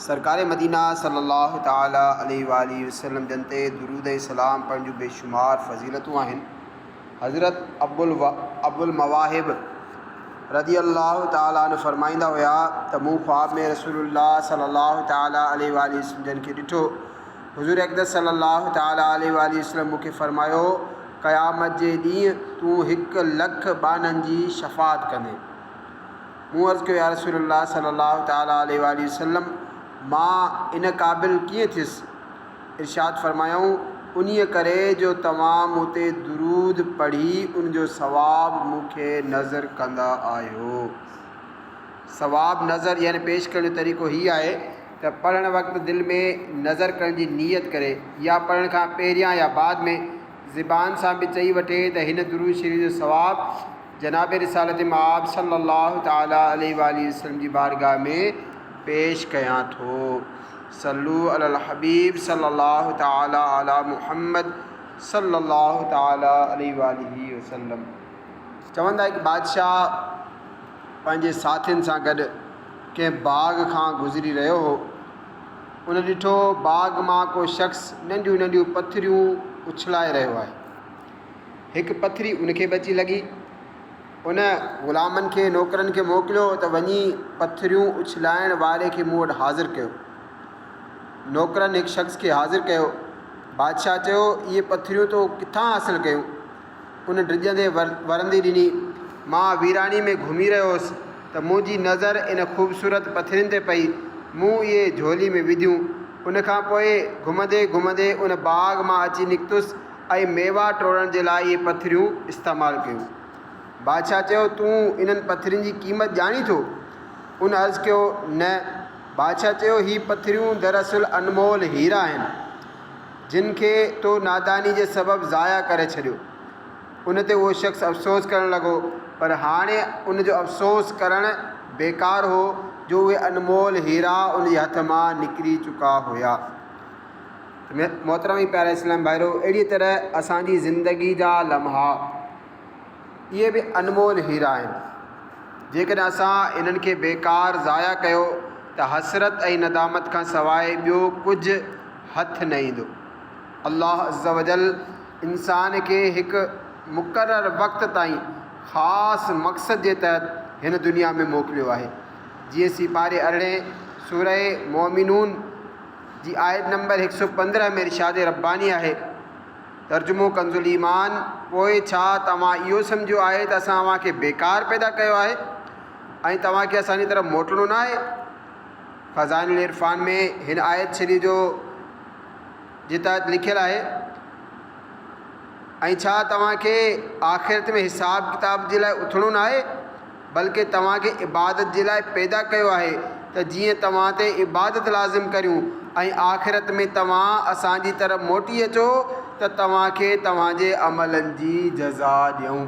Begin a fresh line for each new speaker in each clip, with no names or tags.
سرڪار مدينه صلّي اللّٰه تعالٰي عليه واٰله وسلّم جن تي درود ۽ سلام پڙهڻ جون بيشمار فضيلتون آهن. حضرت ابوالمواهب رضي اللّٰه تعالٰي عنه فرمائيندا هيا ته مون خواب ۾ رسول الله صلّي اللّٰه تعالٰي عليه واٰله وسلّم جن کي ڏٺو. حضور اقدس صلّي اللّٰه تعالٰي عليه واٰله وسلّم مون کي فرمايو، قيامت جي ڏينهن تون هڪ لک ٻانهن جي شفاعت ڪندين. مون عرض ڪيو، يا رسول الله صلّي اللّٰه تعالٰي عليه واٰله وسلّم! مان ان قابل ڪيئن ٿيس؟ ارشاد فرمايائون، انهيء ڪري جو توهان مون تي درود پڙهي ان جو ثواب مون کي نذر ڪندا آهيو. ثواب نذر يعني پيش ڪرڻ جو طريقو هي آهي ته پڙهڻ وقت دل ۾ نذر ڪرڻ جي نيت ڪري يا پڙهڻ کان پهريان يا بعد ۾، زبان سان به چئي وٺي ته هن درود شريف جو ثواب جناب رسالت مآب صلّي الله تعالٰي عليه واٰله وسلّم جي بارگاھ ۾ پيش ڪيان ٿو صلّو علي الحبيب صلّي الله تعالٰي علي محمّد صلّي الله تعالٰي عليه واٰله وسلّم چون ٿا هڪ بادشاھ پنهنجي ساٿين سان گڏ ڪنهن باغ کان گذري رهيو هو هن ڏٺو باغ مان ڪو شخص ننڍيون ننڍيون پٿريون اڇلائي رهيو آهي. هڪ پٿري ان کي به اچي لڳي. ان غلامن کي، نوڪرن کي موڪليو ته وڃي پٿريون اڇلائڻ واري کي مون وٽ حاضر ڪيو. نوڪرن هڪ شخص کي حاضر ڪيو. بادشاهه چيو، اهي پٿريون تو ڪٿان حاصل ڪيون؟ ان ڊڄندي ورندي ڏني. مان ويراڻي ۾ گهمي رهيو هوس ته منهنجي نظر ان خوبصورت پٿرين تي پئي. مون اهي جهولي ۾ وڌيون. ان کان پوء گهمندي گهمندي ان باغ مان اچي نڪتس ۽ ميوا ٽوڙڻ جي لاء اهي پٿريون استعمال ڪيون. بادشاهه چيو، تون انهن پٿرين جي قيمت ڄاڻين ٿو؟ ان عرض ڪيو، نه. بادشاهه چيو، هي پٿريون دراصل انمول هيرا آهن. جن کي تو ناداني جي سبب ضايع ڪري ڇڏيو. ان تي اهو شخص افسوس ڪرڻ لڳو، پر هاڻي ان جو افسوس ڪرڻ بيڪار هو جو اهي انمول هيرا ان جي هٿ مان نڪري چڪا هيا. ته محترم ۽ پيارا اسلامي ڀائرو! اهڙيء طرح اسان جي زندگيء جا لمحا اهي به انمول هيرا آهن. جيڪڏهن اسان انهن کي بيڪار ضايع ڪيو ته حسرت ۽ ندامت کان سواء ٻيو ڪجهه هٿ نه ايندو. الله عزّوجلّ انسان کي هڪ مقرر وقت تائين خاص مقصد جي تحت هن دنيا ۾ موڪليو آهي. جيئن سيپاري ارڙهين سورة مؤمنون جي آيت نمبر هڪ سؤ پندرهن ۾ ارشاد ربّاني آهي، ترجمو ڪنزالّيمان، پوء ڇا توهان اهو سمجهيو آهي ته اسان اوهان کي بيڪار پيدا ڪيو آهي ۽ توهان کي اسان جي طرف موٽڻو ناهي؟ خزائن العرفان ۾ هن آيت شريف جو جتائت لکيل آهي، ۽ ڇا توهان کي آخرت ۾ حساب ڪتاب جي لاء اٿڻو ناهي، بلڪه توهان کي عبادت جي لاء پيدا ڪيو آهي ته جيئن توهان تي عبادت لازم ڪريون ۽ آخرت ۾ توهان اسان جي طرف موٽي اچو ته توهان کي توهان جي عملن جي جزا ڏيون.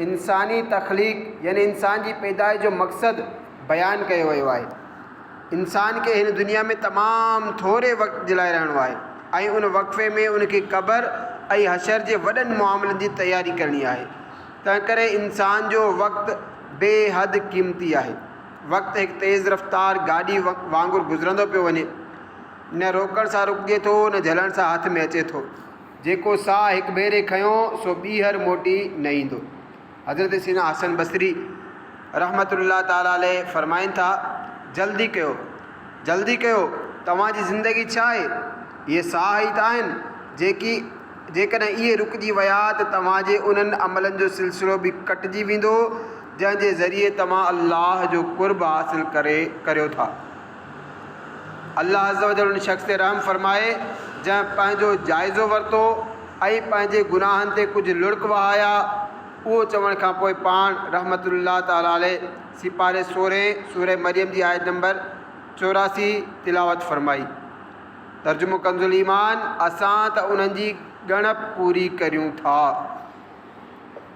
انساني تخليق يعني انسان جي پيدائش جو مقصد بيان ڪيو ويو آهي انسان کي هن دنيا ۾ تمام ٿوري وقت جي لاء رهڻو آهي ۽ ان وقفي ۾ ان کي قبر ۽ حشر جي وڏن معاملن جي تياري ڪرڻي آهي تنهن ڪري انسان جو وقت بي حد قيمتي آهي وقت هڪ تيز رفتار گاڏي وانگر گذرندو پيو وڃي نه روڪڻ سان رڪجي ٿو نه جهلڻ سان هٿ ۾ اچي ٿو جيڪو ساهه هڪ ڀيري کنيو سو ٻيهر موٽي نه ايندو. حضرت سيدنا حسن بصري رحمة الله تعالٰي عليه فرمائن ٿا، جلدي ڪيو، جلدي ڪيو، توهان جي زندگي ڇا آهي؟ اهي ساهه ئي ته آهن، جيڪي جيڪڏهن اهي رڪجي ويا ته توهان جي انهن عملن جو سلسلو به ڪٽجي ويندو، جنهن جي ذريعي توهان الله جو قرب حاصل ڪري ڪريو ٿا. الله عزّوجلّ ان شخص تي رحم فرمائي، جنهن پنهنجو جائزو ورتو ۽ پنهنجي گناهن تي ڪجهه لڙڪ وهايا. اهو چوڻ کان پوء پاڻ، رحمة الله تعالٰي عليه، سيپاري سورهين، سورة مريم جي آيت نمبر چوراسي، تلاوت فرمائي. ترجمو ڪنزالإيمان، اسان ته انهن جي ڳڻپ پوري ڪريون ٿا.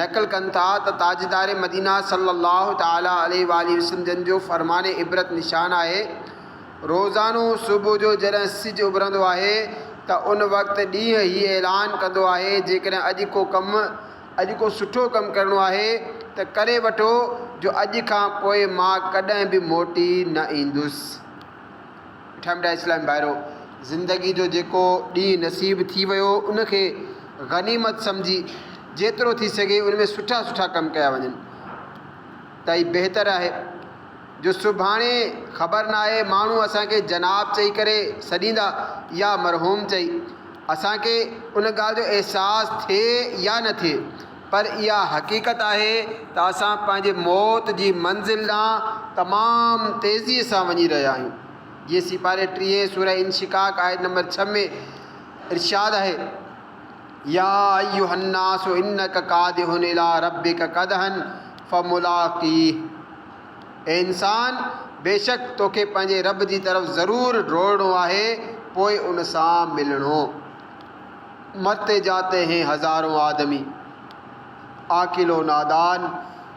نقل ڪن ٿا ته تاجدار مدينه صلّي اللّٰه تعالٰي عليه واٰله وسلّم جن جو فرمان عبرت نشان آهي، روزانو صبح جو جڏهن سج اڀرندو آهي ته ان وقت ڏينهن هي اعلان ڪندو آهي جيڪڏهن اڄ ڪو ڪم، اڄ ڪو سٺو ڪم ڪرڻو آهي ته ڪري وٺو جو اڄ کان پوء مان ڪڏهن به موٽي نه ايندس. ٺهمڊا اسلامي ڀائرو! زندگي جو جيڪو ڏينهن نصيب ٿي ويو ان کي غنيمت سمجهي جيترو ٿي سگهي ان ۾ سٺا سٺا ڪم ڪيا وڃن ته اهي بهتر آهي جو سڀاڻي خبر ناهي ماڻهو اسان کي جناب چئي ڪري سڏيندا يا مرحوم چئي اسان کي ان ڳالهه جو احساس ٿئي يا نه ٿئي پر اها حقيقت آهي ته اسان پنهنجي موت جي منزل ڏانهن تمام تيزيء سان وڃي رهيا آهيون. جيئن سيپاري ٽيهين سورة انشقاق آيت نمبر ڇهه ۾ ارشاد آهي، يا ايها الناس انڪ ڪادح الي ربڪ ڪدحا فملاقيه، اي انسان! بيشڪ توکي پنهنجي رب جي طرف ضرور ڊوڙڻو آهي پوء ان سان ملڻو. مرتے جاتي هين هزارون آدمي، عاقل و نادان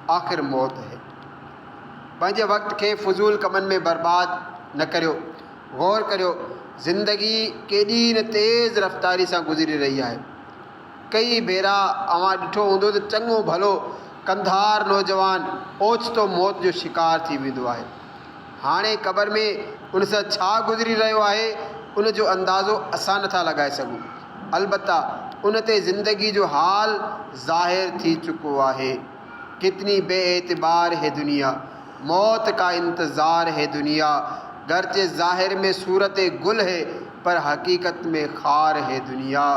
آخر موت هي. پنهنجي وقت کي فضول ڪمن ۾ برباد نه ڪريو. غور ڪريو زندگي ڪيڏي نه تيز رفتاري سان گذري رهي آهي. ڪئي ڀيرا اوهان ڏٺو هوندو ته چڱو ڀلو ڪنڌار نوجوان اوچتو موت جو شڪار ٿي ويندو آهي. هاڻي قبر ۾ ان سان ڇا گذري رهيو آهي، ان جو اندازو اسان نٿا لڳائي سگهون. البته ان تي زندگي جو حال ظاهر ٿي چڪو آهي. ڪتني بي اعتبار هي دنيا، موت ڪا انتظار هي دنيا، گرچه ظاهر ۾ صورت گل هي، پر حقيقت ۾ خار هي دنيا.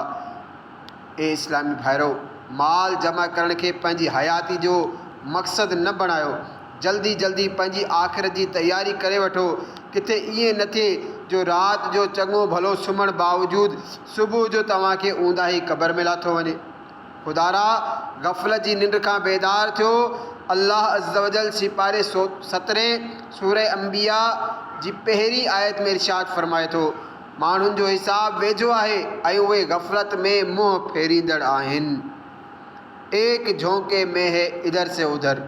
اي اسلامي ڀائرؤ! مال جمع ڪرڻ کي پنهنجي حياتي جو مقصد نه بڻايو. جلدي جلدي پنهنجي آخرت جي تياري ڪري وٺو. ڪٿي ائين نه ٿئي جو رات جو چڱو ڀلو سمهڻ باوجود صبح جو توهان کي اونداهي قبر ۾ لاٿو وڃي. خدارا! غفلت جي ننڊ کان بيدار ٿيو. الله عزّوجلّ سيپاري سو سترهين، سورة انبياء، جي پهرين آيت ۾ ارشاد فرمائي ٿو. ماڻهن جو حساب ويجهو آهي ۽ اهي غفلت ۾ منهن ڦيريندڙ آهن. ايڪ جهونڪي مين هي ادهر سي ادهر،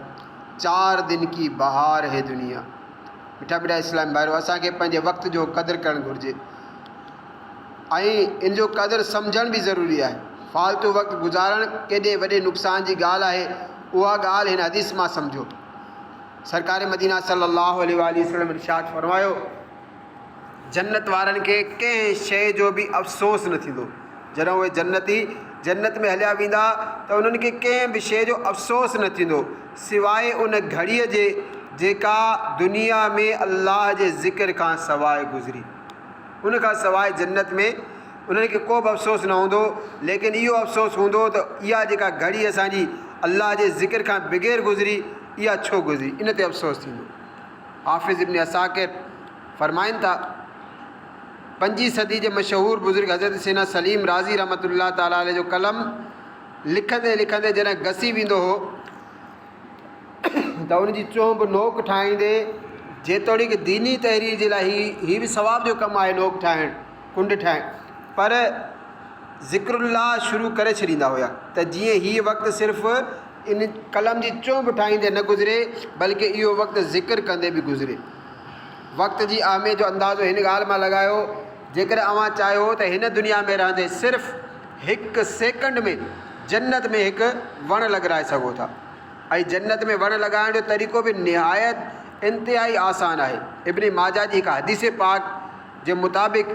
چار دن ڪي بهار هي دنيا. مٺا مٺا اسلامي ڀائرو! اسان کي پنهنجي وقت جو قدر ڪرڻ گهرجي ۽ ان جو قدر سمجهڻ به ضروري آهي. فالتو وقت گذارڻ ڪيڏي وڏي نقصان جي ڳالهه آهي، اها ڳالهه هن حديث مان سمجهو. سرڪار مدينه صلّي اللّٰه عليه واٰله وسلّم ارشاد فرمايو، جنت وارن کي ڪنهن شيء جو به افسوس نه ٿيندو. جڏهن اهي جنتي جنت ۾ هليا ويندا ته انهن کي ڪنهن به شيء جو افسوس نه ٿيندو سواء ان گهڙيء جي جيڪا دنيا ۾ الله جي ذڪر کان سواء گذري. ان کان سواء جنت ۾ انهن کي ڪو به افسوس نه هوندو ليڪن اهو افسوس هوندو ته اها جيڪا گهڙي اسان جي الله جي ذڪر کان بغير گذري اها ڇو گذري؟ ان تي افسوس ٿيندو. حافظ ابن عساڪر فرمائن ٿا، پنجين صدي جي مشهور بزرگ حضرت سينا سليم رازي رحمة الله تعالٰي عليه جو قلم لکندي لکندي جڏهن گسي ويندو هو ته ان جي چونب نوڪ ٺاهيندي جيتوڻيڪ ديني تحرير جي لاء هي به ثواب جو ڪم آهي نوڪ ٺاهڻ ڪنڊ ٺاهڻ پر ذڪر الله شروع ڪري ڇڏيندا هيا ته جيئن هيء وقت صرف ان قلم جي چونب ٺاهيندي نه گذري بلڪه اهو وقت ذڪر ڪندي به گذري. وقت جي اهميت جو اندازو هن ڳالهه مان لڳايو جيڪڏهن اوهان چاهيو ته هن دنيا ۾ رهندي صرف هڪ سيڪنڊ ۾ جنت ۾ هڪ وڻ لڳرائي سگهو ٿا ۽ جنت ۾ وڻ لڳائڻ جو طريقو به نهايت انتهائي آسان آهي ابن ماجه جي هڪ حديث پاڪ جي مطابق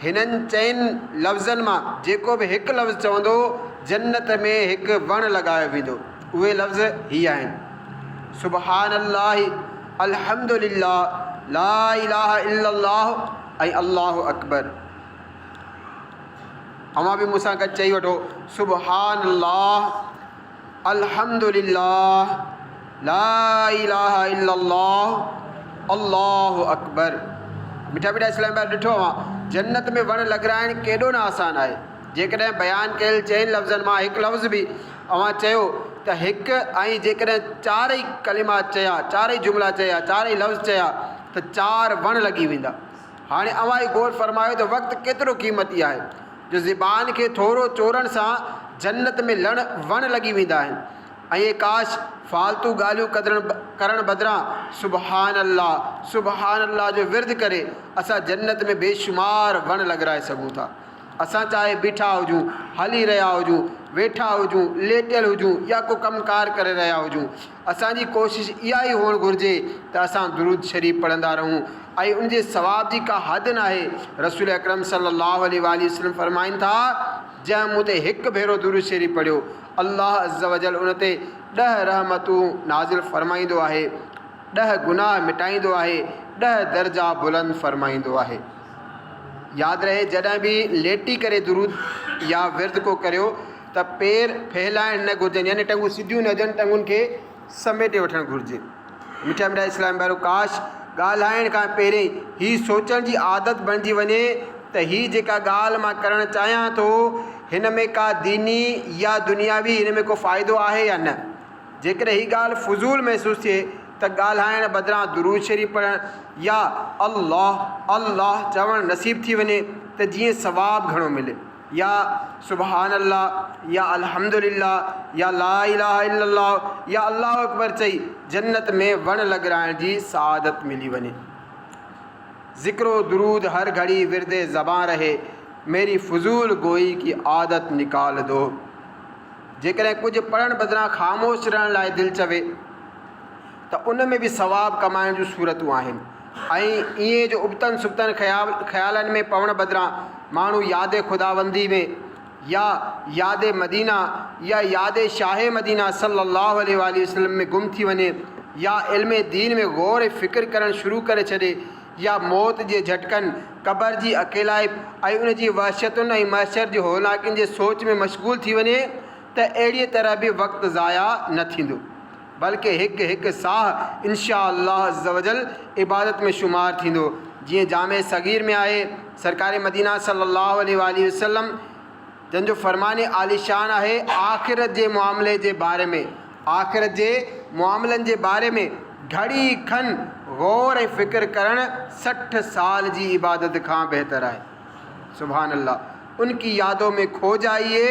هنن چئن لفظن مان جيڪو به هڪ لفظ چوندو جنت ۾ هڪ وڻ لڳايو ويندو اهي لفظ هي آهن سبحان الله الحمد لله لا اله الا الله ۽ الله اڪبر اوهان به مون سان گڏ چئي وٺو سبحان الله الحمد لله لا اله الا الله الله اڪبر مٺا مٺا اسلام آباد ڏٺو اوهان جنت ۾ وڻ لڳرائڻ ڪيڏو نه آسان آهي جيڪڏهن بيان ڪيل چئن لفظن مان هڪ لفظ به اوهان چيو ته هڪ ۽ جيڪڏهن چارئي ڪلمات چيا چارئي جملا چيا چارئي لفظ چيا ته چار وڻ لڳي ويندا هاڻي اوهان ئي غور فرمايو ته وقت ڪيترو قيمتي آهي جو زبان کي ٿورو چورڻ سان جنت ۾ لڻ وڻ لڳي ويندا آهن ۽ ڪاش فالتو ڳالهيون ڪدرڻ ڪرڻ بدران سبحان الله سبحان الله جو ورد ڪري اسان جنت ۾ بيشمار وڻ لڳرائي سگهون ٿا اسان چاهي بيٺا هجون هلي رهيا هجون ويٺا هجون ليٽيل هجون يا ڪو ڪم ڪار ڪري رهيا هجون اسان جي ڪوشش اها ئي هئڻ گهرجي ته اسان درود شريف پڙهندا رهون ۽ ان جي ثواب جي ڪا حد ناهي، رسول اڪرم صلي الله عليه واٰله وسلم فرمائن ٿا، جنهن مون تي هڪ ڀيرو درود شريف پڙهيو، الله عزّوجلّ ان تي ڏهه رحمتون نازل فرمائيندو آهي، ڏهه گناهه مٽائيندو آهي، ڏهه درجا بلند فرمائيندو آهي. ياد رهي جڏهن به ليٽي ڪري درود يا ورد ڪو ڪريو. ته پير ڦهلائڻ نه گهرجن يعني ٽنگون سڌيون نه هجن ٽنگن کي سميٽي وٺڻ گهرجي. مٺا مٺا اسلام ڀائرو ڪاش ڳالهائڻ کان پهرين هي سوچڻ جي عادت بڻجي وڃي ته هي جيڪا ڳالهه مان ڪرڻ چاهيان ٿو هن ۾ ڪا ديني يا دنياوي هن ۾ ڪو فائدو آهي يا نه جيڪڏهن هي ڳالهه فضول محسوس ٿئي ته ڳالهائڻ بدران درود شريف پڙهڻ يا الله الله چوڻ نصيب ٿي وڃي ته جيئن ثواب گهڻو ملي. يا سبحان الله يا الحمد لله يا لا اله الا الله يا الله اڪبر چئي جنت ۾ وڻ لڳرائڻ جي سعادت ملي وڃي. ذڪر و درود هر گهڙي ورد زبان رهي، ميري فضول گوئي ڪي عادت نڪال دو. جيڪڏهن ڪجهه پڙهڻ بدران خاموش رهڻ لاء دل چوي. ته ان ۾ به ثواب ڪمائڻ جون صورتون آهن ۽ ائين جو ابتن سبتن خيالن ۾ پوڻ بدران ماڻهو ياد خداوندي ۾ يا ياد مدينه يا ياد شاهه مدينه صلّي اللّٰه عليه واٰله وسلّم ۾ گم ٿي وڃي يا علم دين ۾ غور ۽ فڪر ڪرڻ شروع ڪري ڇڏي يا موت جي جهٽڪن، قبر جي اڪيلائپ ۽ ان جي وحشتن ۽ محشر جي هولناڪين جي سوچ ۾ مشغول ٿي وڃي ته اهڙيء طرح به وقت ضايع نه ٿيندو. بلڪه هڪ هڪ ساهه انشاء الله عزّوجلّ عبادت ۾ شمار ٿيندو، جيئن جامع صغير ۾ آهي، سرڪار مدينه صلّي الله عليه واٰله وسلّم جن جو فرمان عالي شان آهي، آخرت جي معاملي جي باري ۾، آخرت جي معاملن جي باري ۾، گهڙي کن غور ۽ فڪر ڪرڻ سٺ سال جي عبادت کان بهتر آهي. سبحان الله! ان ڪي يادو مين کو جائيي،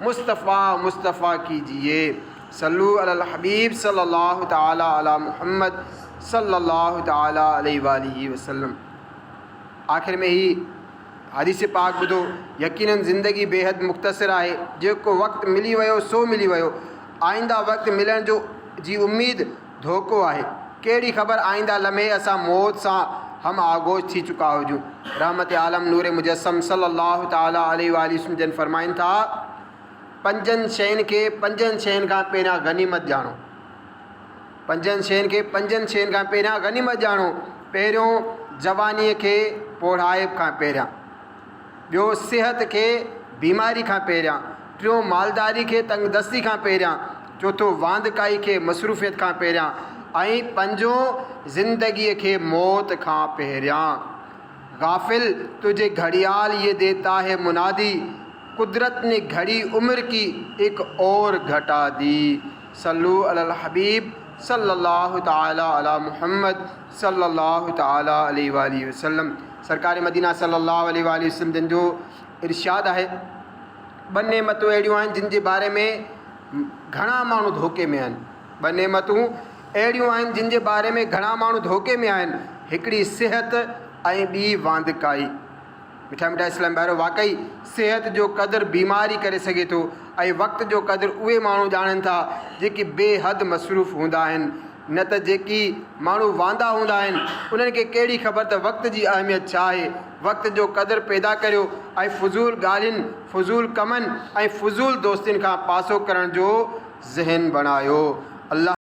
مصطفٰي مصطفٰي ڪيجيي. صلو علی الحبيب صلّي الله تعالٰي عليٰ محمّد صلّي الله تعالٰي عليه واٰله وسلّم آخر ۾ هي حديث پاڪ ٻڌو، يقيناً زندگي بيحد مختصر آهي، جيڪو وقت ملي ويو سو ملي ويو، آئنده وقت ملڻ جو جي اميد ڌوڪو آهي، ڪهڙي خبر آئنده لمحي اسان موت سان هم آغوش ٿي چڪا هجون، رحمت عالم نور مجسّم صلّي الله تعالٰي عليه واٰله وسلّم جن فرمائن ٿا. پنجن شين کي پنجن شين کان پهريان غنيمت ڄاڻو. پنجن شين کي پنجن شين کان پهريان غنيمت ڄاڻو. پهريون جوانيء کي پوڙهائپ کان پهريان. ٻيو صحت کي بيماري کان پهريان. ٽيون مالداري کي تنگدستي کان پهريان. چوٿون واندڪائي کي مصروفيت کان پهريان ۽ پنجون زندگيء کي موت کان پهريان. غافل! تنهنجي گهڙيال، يي ديتا هي منادي! قدرت ني گھڙي عمر ڪي ايڪ اور گھٽا دي صلو علی الحبيب صلّي الله تعالٰي علی محمّد صلّي الله تعالٰي عليه واٰله وسلّم سرڪار مدينه صلّي الله عليه واٰله وسلّم جن جو ارشاد آهي ٻه نعمتون اهڙيون آهن جن جي باري ۾ گھڻا ماڻهو ڌوڪي ۾ آهن ٻه نعمتون اهڙيون آهن جن جي باري ۾ گھڻا ماڻهو ڌوڪي ۾ آهن هڪڙي صحت ۽ ٻي واندڪائي. مٺا مٺا اسلام ڀائرو واقعي صحت جو قدر بيمار ئي ڪري سگهي ٿو ۽ وقت جو قدر اهي ماڻهو ڄاڻن ٿا جيڪي بي حد مصروف هوندا آهن نه ته جيڪي ماڻهو واندا هوندا آهن انهن کي ڪهڙي خبر ته وقت جي اهميت ڇا آهي وقت جو قدر پيدا ڪريو ۽ فضول ڳالهين فضول ڪمن ۽ فضول دوستين کان پاسو ڪرڻ جو ذهن بڻايو الله